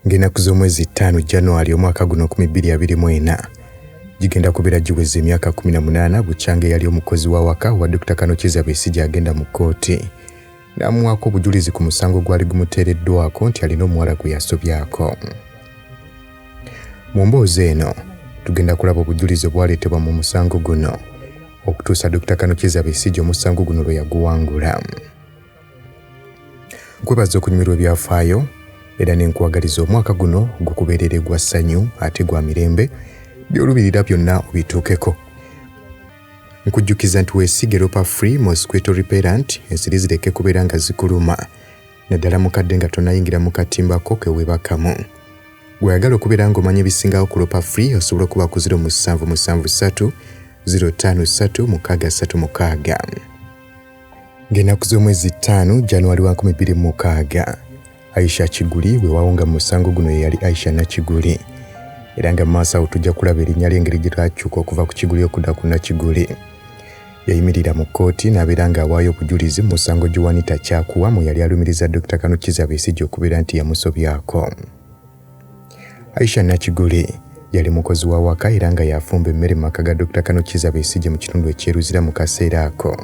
ng'enaku z'omwezi ttaano january omwaka guno 2024 gigenda kubeera giweza emyaka 18 bukyanga eyali omukozi wa waka wa dr kanokyeza besigye agenda mu kkooti n'amuwaako obujulizi ku musango gwali gumuteereddwako nti alina omuwala gwe yasobyako mu mboozi eno tugenda kulaba obujulizi obwaleetebwa mu musango guno okutuusa Dokita Kano Kiza Besigye omusango guno lwe yaguwangula. Nkwebaza okunyumirwa ebyafaayo era ne nkwagaliza omwaka guno gukubeerere gwa ssanyu ate gwa mirembe by'olubirira byonna obituukeko. Nkujjukiza nti weesige Ropa Free Mosquito Repellent ensiri zireke kubeera nga zikuluma. naddala mukadde nga tonayingira mu katimba ko ke weebakamu. Gw'oyagala okubeera ng'omanya ebisingawo ku Lopa Free osobola okuba ku 0 musanvu ssatu 053636. Ng'ennaku z'omwezi ttaano January wa 2006, Aisha Kiguli weewaawo nga mu musango guno ye yali Aisha Nakiguli era nga mu maaso awo tujja kulaba erinnya ly'engeri gye lyakyuka okuva ku Kiguli okudda ku Nakiguli. Yayimirira mu kkooti n'abeera ng'awaayo obujulizi mu musango Juanita Kyakua mwe yali alumiriza Dokita Kano Kizza Besigye okubeera nti yamusobyako. Aisha Nakiguli yali mukozi wa waka era nga yafumba emmere mu maka ga Dokita Kano Kizza Besigye mu kitundu eky'e Luzira mu kaseera ako.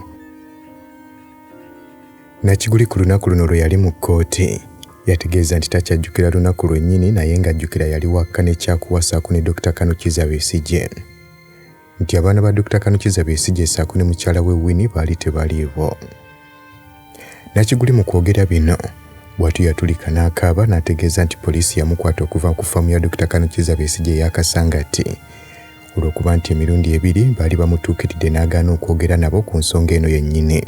Nakiguli ku lunaku luno lwe yali mu kkooti yategeeza nti takyajjukira lunaku lwennyini naye ng'ajjukira yali wakka ne Kyakuwa ssaako ne Dokita Kano Kizza Besigye. nti abaana ba Dokita Kanukiza Besigye ssaako ne mukyala we Winnie baali tebaliiwo. Nakiguli mu kwogera bino bw'atyo yatulika n'akaaba n'ategeeza nti poliisi yamukwata okuva ku faamu ya Dokita Kanukiza Besigye eya Kasangati olw'okuba nti emirundi ebiri baali bamutuukiridde n'agaana okwogera nabo ku nsonga eno yennyini.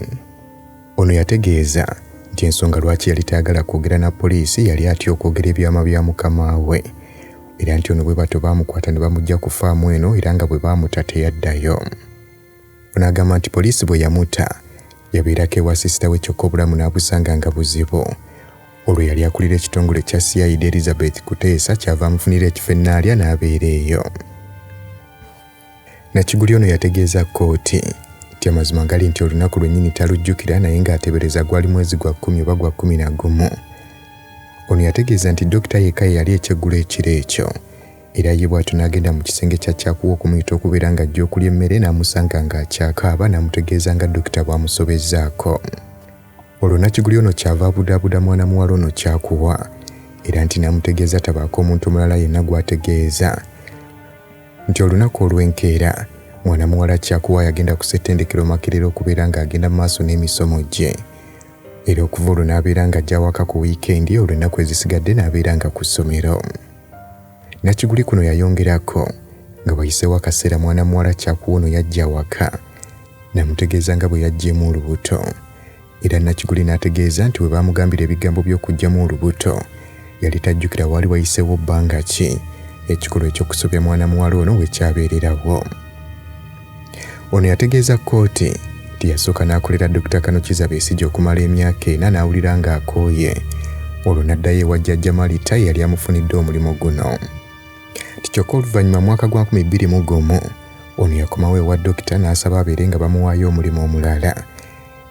Ono yategeeza nti ensonga lwaki yali tayagala kwogera na poliisi yali atya okwogera ebyama bya mukama we era nti ono bwe batyo baamukwata ne bamujja ku faamu eno era nga bwe baamuta teyaddayo. Ono agamba nti poliisi bwe yamuta yabeerako ewa sisita we kyokka obulamu n'abusanga nga buzibu olwo yali akulira ekitongole kya CID Elizabeth Kuteesa kyava amufunira ekifo ennaalya n'abeera eyo. Nakiguli ono yategeeza kkooti nti amazima gali nti olunaku lwennyini talujjukira naye ng'atebereza gwali mwezi gwa kkumi oba gwa kkumi na gumu ono yategeeza nti dokita yekka ye yali ekyeggulo ekiro ekyo era ye bw'atyo n'agenda mu kisenge kya kyakuwa okumuyita okubeera ng'ajja okulya emmere n'amusanga ng'akyakaaba n'amutegeeza nga dokita bw'amusobezzaako olwo nakiguli ono kyava abudaabuda mwana muwala ono kyakuwa era nti n'amutegeeza tabaako omuntu omulala yenna gw'ategeeza nti olunaku olw'enkeera mwana muwala Kyakuwa yagenda ku ssettendekero Makerere okubeera ng'agenda mu maaso n'emisomo gye era okuva olwo n'abeera ng'ajja awaka ku wiikendi olwo ennaku ezisigadde n'abeera nga ku ssomero. Nakiguli kuno yayongerako nga wayiseewo akaseera mwana muwala Kyakuwa ono yajja awaka namutegeeza nga bwe yajjeemu olubuto era Nakiguli n'ategeeza nti bwe baamugambira ebigambo by'okuggyamu olubuto yali tajjukira waali wayiseewo bbanga ki ekikolwa eky'okusobya mwana muwala ono we kyabeererawo ono yategeeza kkooti nti yasooka n'akolera dokita kanukiza besigye okumala emyaka ena n'awulira ng'akooye olwo n'addayo ewa jjajja malita eyali amufunidde omulimu guno nti kyokka oluvannyuma mwaka gwa 2 gumu ono yakomawo ewa dokita n'asaba abeere nga bamuwaayo omulimu omulala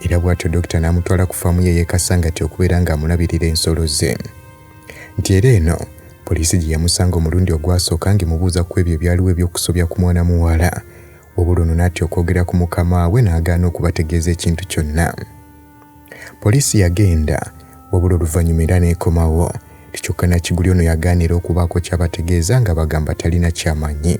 era bw'atyo dokita n'amutwala ku faamu ye y'e Kasangati okubeera ng'amulabirira ensolo ze nti era eno poliisi gye yamusanga omulundi ogwasooka ng'emubuuza ku ebyo ebyaliwo eby'okusobya ku mwana muwala wabula ono n'atya okwogera ku mukama we n'agaana okubategeeza ekintu kyonna poliisi yagenda wabula oluvannyuma era n'ekomawo kyokka nakiguli ono yagaanira okubaako kyabategeeza nga bagamba talina kyamanyi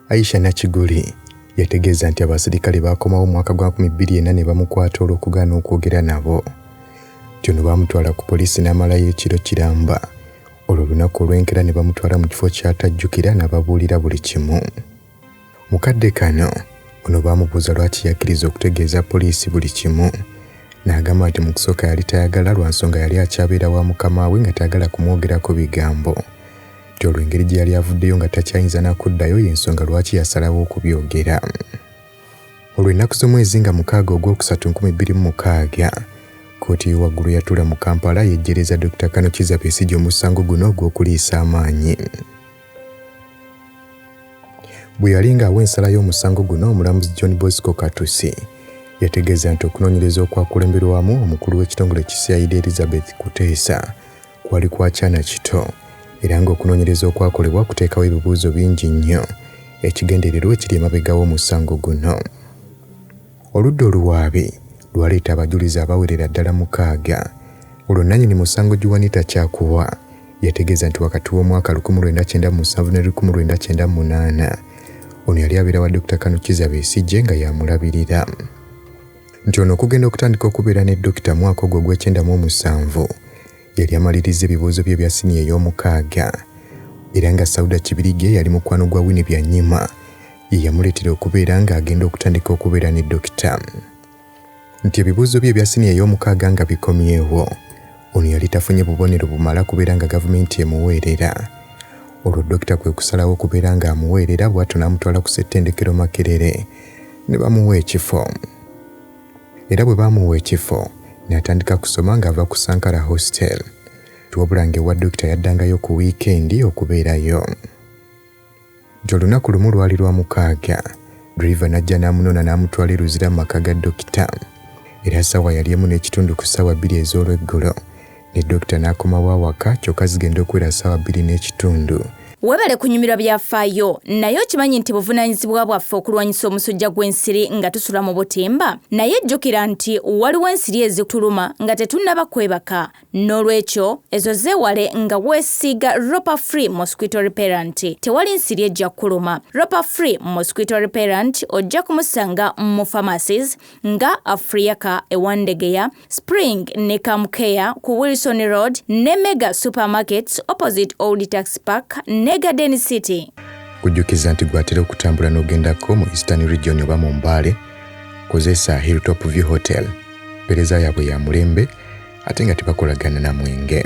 Aisha Nakiguli yategeeza nti abaserikale baakomawo omwaka gwa 2004 ne bamukwata olw'okugaana okwogera nabo nti ono baamutwala ku poliisi n'amalayo ekiro kiramba olwo olunaku olw'enkera ne bamutwala mu kifo ky'atajjukira n'ababuulira buli kimu mu kadde kano ono baamubuuza lwaki yakkiriza okutegeeza poliisi buli kimu n'agamba nti mu kusooka yali tayagala lwa nsonga yali akyabeera wa mukama we nga tayagala kumwogerako bigambo Kati olwo engeri gye yali avuddeyo nga takyayinza na kuddayo y'ensonga lwaki yasalawo okubyogera. Olwo ennaku z'omwezi nga mukaaga ogwokusatu nkumi bbiri mu mukaaga, kkooti y'owaggulu yatula mu Kampala yejjereza Dokita Kano Kizza Besigye omusango guno ogw'okuliisa amaanyi. Bwe yali ng'awa ensala y'omusango guno, omulamuzi John Bosco Katusi yategeeza nti okunoonyereza okwakulemberwamu omukulu w'ekitongole ki CID Elizabeth Kuteesa kwali kwa kyana kito era ng'okunoonyereza okwakolebwa kuteekawo ebibuuzo bingi nnyo ekigendererwa ekiri emabega w'omusango guno. Oludda oluwaabi lwaleeta abajulizi abawerera ddala mukaaga olwo nnannyini musango Juanita Kyakuwa yategeeza nti wakati w'omwaka 1997 ne 1998 ono yali abeera wa Dokita Kanukiza Besigye nga yamulabirira. nti ono okugenda okutandika okubeera ne dokita mwaka ogwo ogw'ekyenda mu omusanvu yali amalirizza ebibuuzo bye ebya siniya ey'omukaaga era nga Sauda Kibirige yali mukwano gwa Winnie Byanyima ye yamuleetera okubeera ng'agenda okutandika okubeera ne dokita nti ebibuuzo bye ebya siniya ey'omukaaga nga bikomyewo ono yali tafunye bubonero bumala kubeera nga gavumenti emuweerera olwo dokita kwe kusalawo okubeera ng'amuweerera bw'atyo n'amutwala ku ssettendekero Makerere ne bamuwa ekifo era bwe baamuwa ekifo n'atandika kusoma ng'ava ku Sankara Hostel wabula ng'ewa dokita yaddangayo ku wiikendi okubeerayo nti olunaku lumu lwali lwa mukaaga driva n'ajja n'amunona n'amutwala eruzira mu maka ga dokita era ssaawa yali emu n'ekitundu ku ssaawa bbiri ez'olweggulo ne dokita n'akomawo awaka kyokka zigenda okuwera ssaawa bbiri n'ekitundu. Webale kunyumirwa byafaayo, naye okimanyi nti buvunaanyizibwa bwaffe okulwanyisa omusujja gw'ensiri nga tusula mu butimba? Naye jjukira nti waliwo ensiri ezituluma nga tetunnaba kwebaka. N'olwekyo, ezo zeewale nga weesiiga Ropa Free Mosquito Repellent. Tewali nsiri ejja kukuluma. Ropa Free Mosquito Repellent ojja kumusanga mu pharmacies nga Afriyaka e Wandegeya, Spring ne Camcare ku Wilson Road ne Mega Supermarkets opposite Old Tax Park ne Garden City. Kujjukiza nti gwatera okutambula n'ogendako mu Eastern Region oba mu Mbale, kozesa Hilltop View Hotel. Mpereza yaabwe ya mulembe ate nga tebakolagana na mwenge.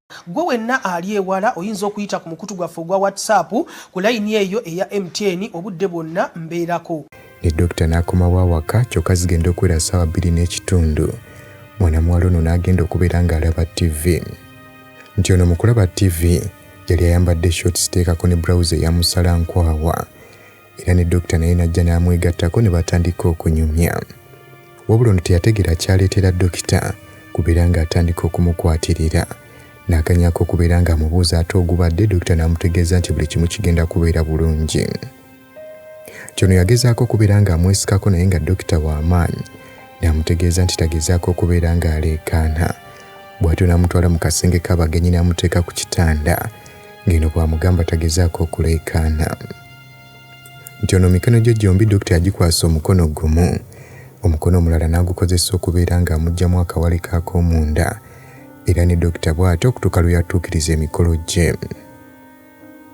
Gwe wenna ali ewala oyinza okuyita ku mukutu gwaffe ogwa WhatsApp ku layini eyo eya MTN obudde bwonna mbeerako. Ne dokita n'akomawo awaka kyokka zigenda okuwera ssaawa bbiri n'ekitundu mwana muwala ono n'agenda okubeera ng'alaba ttivi. Nti ono mu kulaba ttivi yali ayambadde shorts teekako ne bbulawuzi eya musalankwawa. era ne dokita naye n'ajja n'amwegattako ne batandika okunyumya wabula ono teyategeera kyaleetera dokita kubeera ng'atandika okumukwatirira n'akanyako okubeera ng'amubuuza ate ogubadde dokita n'amutegeeza nti buli kimu kigenda kubeera bulungi kyono yagezaako okubeera ng'amwesikako naye nga dokita w'amaanyi n'amutegeeza nti tagezaako okubeera ng'aleekaana bw'atyo n'amutwala mu kasenge k'abagenyi n'amuteeka ku kitanda ng'eno bw'amugamba tagezaako okuleekaana nti ono mikono gye gyombi dokita yagikwasa omukono gumu omukono omulala n'agukozesa okubeera ng'amugyamu akawale k'akoomunda era ne dokita bw'atyo okutuuka lwe yatuukiriza emikolo gye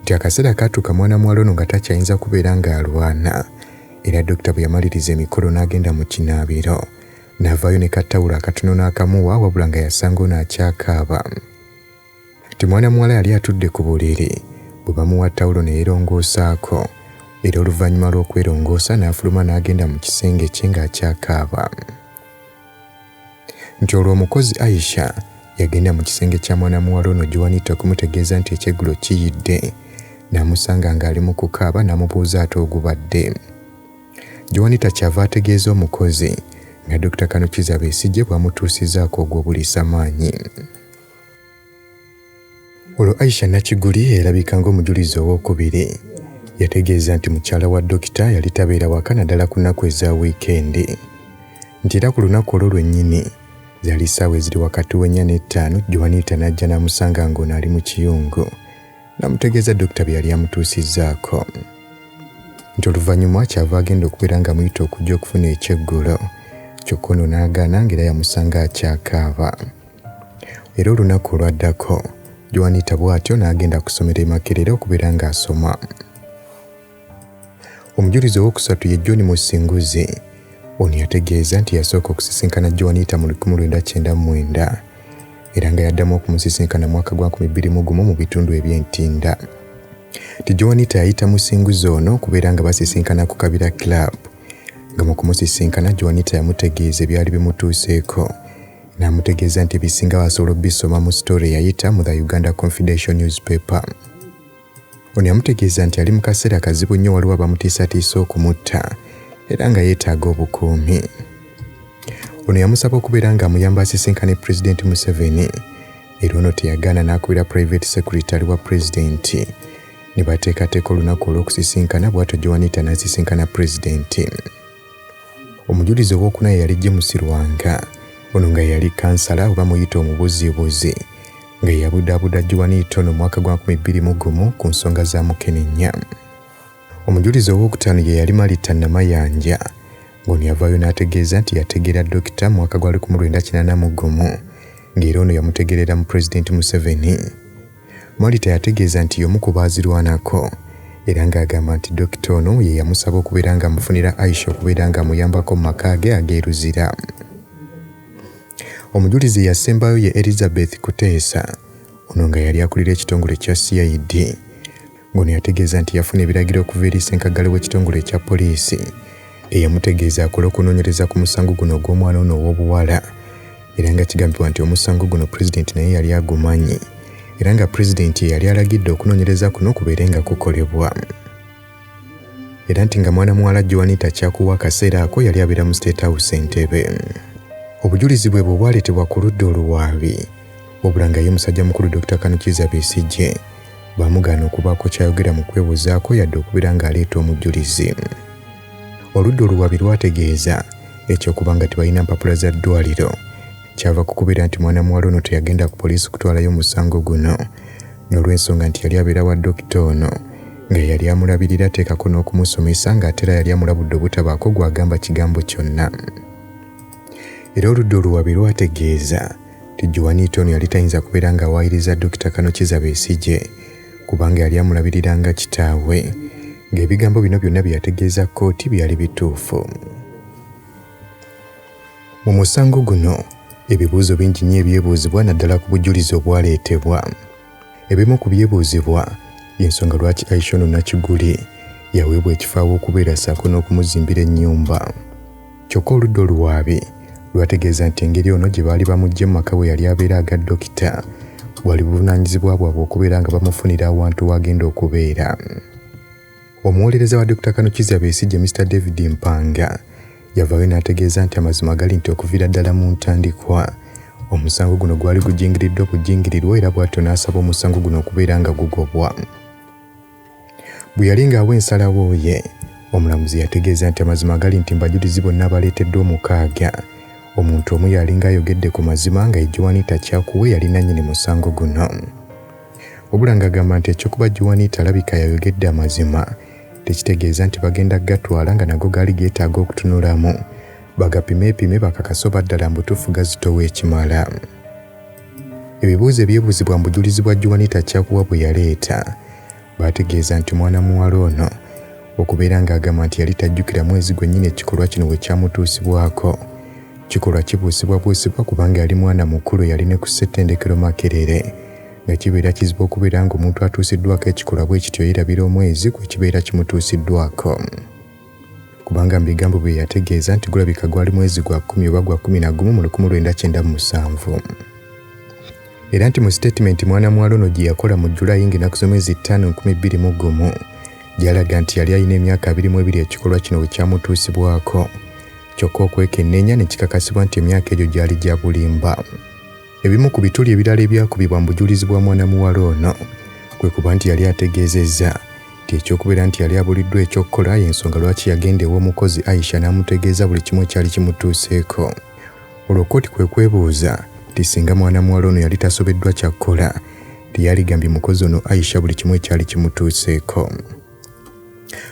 nti akaseera kaatuuka mwana muwala ono nga takyayinza kubeera ng'alwana era dokita bwe yamaliriza emikolo n'agenda mu kinaabiro n'avaayo ne kattawulo akatono n'akamuwa wabula nga yasanga ono akyakaaba Kati mwana muwala yali atudde ku buliri bwe bamuwa tawulo ne yeerongoosaako era oluvannyuma lw'okwerongoosa n'afuluma n'agenda mu kisenge kye ng'akyakaaba nti olwo omukozi Aisha yagenda mu kisenge kya mwana muwala ono Juanita okumutegeeza nti ekyeggulo kiyidde n'amusanga ng'ali mu kukaaba n'amubuuza ate ogubadde Juanita kyava ategeeza omukozi nga Dokita Kanukiza Besigye bw'amutuusizaako ogw'obuliisa maanyi. Olwo Aisha Nakiguli erabika ng'omujulizi ow'okubiri yategeeza nti mukyala wa dokita yali tabeera waka naddala ku nnaku eza wiikendi nti era ku lunaku olwo lwennyini zaali ssaawa eziri wakati w'ennya n'ettaano Juanita n'ajja n'amusanga ng'ono ali mu kiyungu n'amutegeeza dokita bye yali amutuusizzaako nti oluvannyuma kyava agenda okubeera ng'amuyita okujja okufuna ekyeggulo kyokka ono n'agaana ng'era yamusanga akyakaaba Era olunaku olwaddako Joanita bw'atyo n'agenda ku ssomero e Makerere okubeera ng'asoma. Omujulizi ow'okusatu ye John Musinguzi. Ono yategeeza nti yasooka okusisinkana Joanita mu 1999 era nga yaddamu okumusisinkana mwaka gwa 2001 mu bitundu eby'e Ntinda. Nti Joanita yayita Musinguzi ono okubeera nga basisinkana ku Kabira Club nga mu kumusisinkana Joanita yamutegeeza ebyali bimutuuseeko n'amutegeeza nti ebisingawo asobola obisoma mu sitore eyayita mu the Uganda Confidential Newspaper. Ono yamutegeeza nti ali mu kaseera kazibu nnyo waliwo abamutiisatiisa okumutta era nga yeetaaga obukuumi. Ono yamusaba okubeera ng'amuyamba asisinkane Pulezidenti Museveni era ono teyagaana n'akubira Private Secretary wa Pulezidenti ne bateekateeka olunaku olw'okusisinkana bw'atyo Joanita n'asisinkana Pulezidenti. Omujulizi ow'okuna ye yali James Lwanga. Ono nga yali kansala oba muyita omubuziibuzi nga yabudaabuda Juanito no mwaka gwa 2001 ku nsonga za mukenenya. Omujulizi ow'okutaano ye yali Malita Namayanja ng'ono yavaayo n'ategeeza nti yategeera Dokita mu mwaka gwa 1981 ng'era ono yamutegeerera mu Pulezidenti Museveni. Marita yategeeza nti y'omu ku baazirwanako era ng'agamba nti dokita ono ye yamusaba okubeera ng'amufunira Aisha okubeera ng'amuyambako mu maka ge ag'e Luzira. Omujulizi eyasembayo ye Elizabeth Kuteesa ono nga yali akulira ekitongole kya CID. ngono yategeeza nti yafuna ebiragiro okuva eri ssenkaggale w'ekitongole ekya poliisi eyamutegeeza akole okunoonyereza ku musango guno ogw'omwana ono ow'obuwala era nga kigambibwa nti omusango guno pulezidenti naye yali agumanyi era nga pulezidenti ye yali alagidde okunoonyereza kuno kubeere nga kukolebwa era nti nga mwana muwala joanita kyakuwa akaseera ako yali abeera mu state house entebe obujulizi bwe bwe bwaleetebwa ku ludda oluwaabi Wabula nga ye musajja mukulu Dokita Kano Kiiza Besigye baamugaana okubaako ky'ayogera mu kwewozaako yadde okubeera ng'aleeta omujjulizi. Oludda oluwaabi lwategeeza eky'okuba nga tebalina mpapula za ddwaaliro kyava ku kubeera nti mwana muwala ono teyagenda ku poliisi kutwalayo musango guno n'olw'ensonga nti yali abeera wa dokita ono nga yali amulabirira ateekako n'okumusomesa ng'ate era yali amulabudde obutabaako gw'agamba kigambo kyonna era oludda oluwabi lwategeeza nti Juanita ono yali tayinza kubeera ng'awaayiriza Dokita Kano Kiza Besigye kubanga yali amulabirira nga kitaawe ng'ebigambo bino byonna bye yategeeza kkooti byali bituufu. Mu musango guno ebibuuzo bingi nnyo ebyebuuzibwa naddala ku bujulizi obwaleetebwa. Ebimu ku byebuuzibwa y'ensonga lwaki Aisha ono Nakiguli yaweebwa ekifo aw'okubeera ssaako n'okumuzimbira ennyumba. Kyokka oludda oluwaabi lwategeeza nti engeri ono gye baali bamuggye mu maka we yali abeera aga dokita bwali buvunaanyizibwa bwabwe okubeera nga bamufunira awantu w'agenda okubeera. Omuwolereza wa Dokita Kano Kizza Besigye Mister David Mpanga yavaayo n'ategeeza nti amazima gali nti okuviira ddala mu ntandikwa omusango guno gwali gujingiriddwa kujingirirwa era bw'atyo n'asaba omusango guno okubeera nga gugobwa bwe yali ng'awa ensalawo ye omulamuzi yategeeza nti amazima gali nti mbajulizi bonna abaleeteddwa omukaaga omuntu omu yalinga ayogedde ku mazima nga ejowanita kyakuwe yali nannyini musango guno Wabula ng'agamba nti eky'okuba Juanita alabika yayogedde amazima tekitegeeza nti bagenda kugatwala nga nago gaali geetaaga okutunulamu bagapimeepime bakakase oba ddala mbutuufu gazitowa ekimala. Ebibuuzo ebyebuuzibwa mu bujulizi bwa Juanita Kyakuwa bwe yaleeta baategeeza nti mwana muwala ono okubeera ng'agamba nti yali tajjukira mwezi gwennyini ekikolwa kino we kyamutuusibwako kikolwa kibuusibwabuusibwa kubanga yali mwana mukulu yali ne ku ssettendekero Makerere nga kibeera kizibu okubeera ng'omuntu atuusiddwako ekikolwa bwe kityo yerabira omwezi kwe kibeera kimutuusiddwako kubanga mu bigambo bye yategeeza nti gulabika gwali mwezi gwa kkumi oba gwa kkumi na gumu mu lukumu lwenda kyenda mu musanvu era nti mu sitatimenti mwana muwala ono gye yakola mu julayi ng'enaku z'omwezi ttaano nkumi bbiri mu gumu gyalaga nti yali alina emyaka abiri mu ebiri ekikolwa kino bwe kyamutuusibwako kyokka okwekenneenya ne kikakasibwa nti emyaka egyo gyali gya bulimba Ebimu ku bituli ebirala ebyakubibwa mu bujulizi bwa mwana muwala ono kwe kuba nti yali ategeezezza nti eky'okubeera nti yali abuliddwa eky'okukola y'ensonga lwaki yagenda ew'omukozi Aisha n'amutegeeza buli kimu ekyali kimutuuseeko olwo kkooti kwe kwebuuza nti singa mwana muwala ono yali tasobeddwa kyakukola nti yaligambye mukozi ono Aisha buli kimu ekyali kimutuuseeko.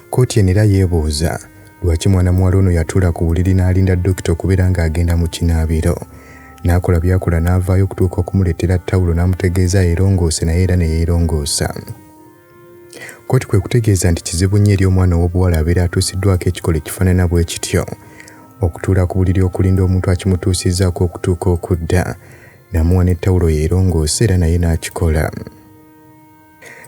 Kkooti eno era yeebuuza lwaki mwana muwala ono yatuula ku buliri n'alinda dokita okubeera ng'agenda mu kinaabiro n'akola byakola n'avaayo okutuuka okumuleetera ttawulo n'amutegeeza yeerongoose naye era ne yeerongoosa. Kkooti kwe kutegeeza nti kizibu nnyo eri omwana ow'obuwala abeera atuusiddwako ekikolo ekifaanana bwe kityo okutuula ku buliri okulinda omuntu akimutuusizzaako okutuuka okudda namuwa ne ttawulo yeerongoose era naye n'akikola.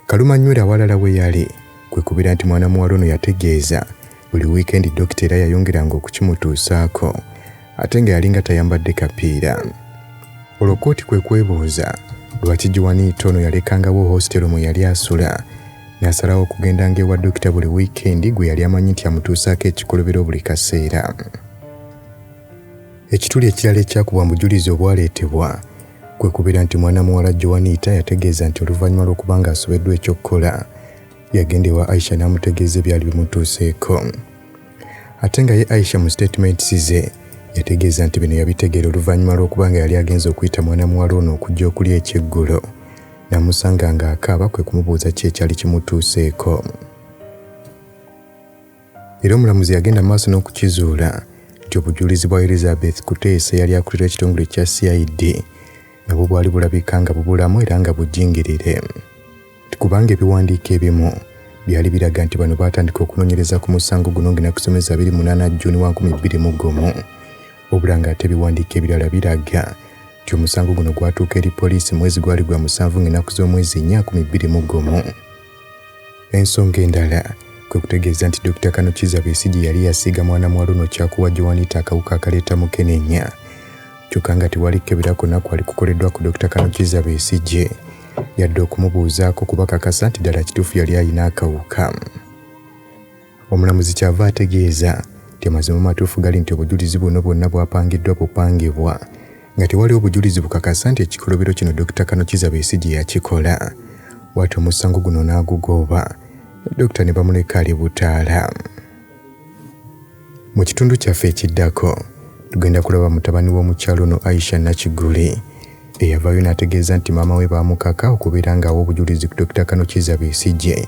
Kalumanywera awalala we yali kwe kubeera nti mwana muwala ono yategeeza buli wiikendi dokita era yayongeranga okukimutuusaako ate nga yalinga tayambadde kapiira olwo kooti kwe kwebuuza lwaki giwaniita ono yalekangawo hositero mwe yali asula n'asalawo okugendanga ewa dokita buli wiikendi gwe yali amanyi nti amutuusaako ekikolobero buli kaseera ekituli ekirala ekyakubwa mu bujulizi obwaleetebwa kwe kubeera nti mwana muwala Joanita yategeeza nti oluvannyuma lw'okuba ng'asobeddwa eky'okukola yagenda ewa Aisha n'amutegeeza ebyali bimutuuseeko ate nga ye Aisha mu statements ze yategeeza nti bino yabitegeera oluvannyuma lw'okuba nga yali agenze okuyita mwana muwala ono okujja okulya ekyeggulo namusanga ng'akaaba kwe kumubuuza ki ekyali kimutuuseeko Era omulamuzi yagenda mu maaso n'okukizuula nti obujulizi bwa Elizabeth Kuteesa eyali akulira ekitongole kya CID nabwo bwali bulabika nga bubulamu era nga bujingirire nti kubanga ebiwandiiko ebimu byali biraga nti bano baatandika okunoonyereza ku musango guno ng'enaku z'omwezi abiri munaana Jjuuni wa nkumi bbiri mu gumu wabula ng'ate ebiwandiiko ebirala biraga nti omusango guno gwatuuka eri poliisi mwezi gwali gwa musanvu ng'enaku z'omwezi nnya nkumi bbiri mu gumu Ensonga endala kwe kutegeeza nti Dokita Kano Kizza Besigye yali yasiiga mwana muwala ono kyakuwa Joanita akawuka akaleeta mukenenya kyokka nga tewali kukebera konna kwali kukoleddwa ku Dokita Kano Kizza Besigye yadde okumubuuzaako kubakakasa nti ddala kituufu yali alina akawuka. Omulamuzi kyava ategeeza nti amazima amatuufu gali nti obujulizi buno bwonna bwapangiddwa bupangibwa nga tewali obujulizi bukakasa nti ekikolobero kino Dokita Kanokiza Besigye yakikola bwati omusango guno n'agugooba dokita ne bamuleka ali butaala mu kitundu kyaffe ekiddako tugenda kulaba mutabani w'omukyalo ono aisha nakiguli eyavaayo n'ategeeza nti maama we baamukaka okubeera ng'awa obujulizi ku dokita kanokiza besigye